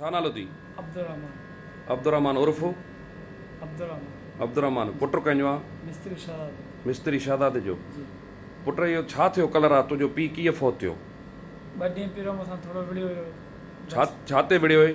ڇا نالو ٿي؟ عبدالرحمان. عبدالرحمان عرف؟ عبدالرحمان. عبدالرحمان پٽ ڪنهن جو آ؟ مستري شهزاد جو. مستري شهزاد جو؟ جي. پٽ اهو ڇا ٿيو ڪلهه رات تنهنجو پيء ڪيئن فوت ٿيو؟ ٻه ڏينهن پهريون مون سان ٿورو وڙهيو هيو. ڇا ڇا تي وڙهيو هئي؟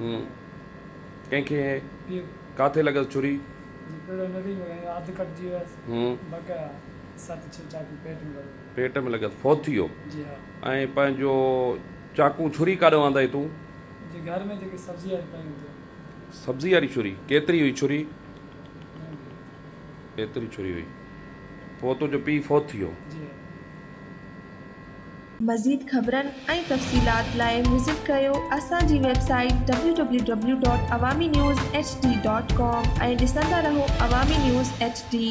هو ڪنهن کي ڪاٿي لڳس ڇري. هو پيٽ ۾ لڳس فوت ٿي ويو. ۽ پنهنجو چاقو ڇري ڪاڏو آندئي تون. سبزي واري ڇري ڪيتري هئي ڇري. ايتري ڇري هئي پوء تنهنجو پيء فوت ٿي ويو. مزيد خبرن ۽ تفصيلات لاء وزٽ ڪريو اسان جي ويب سائيٽ www.awaminewshd.com ۽ ڏسندا رهو عوامي نيوز ايڇ ڊي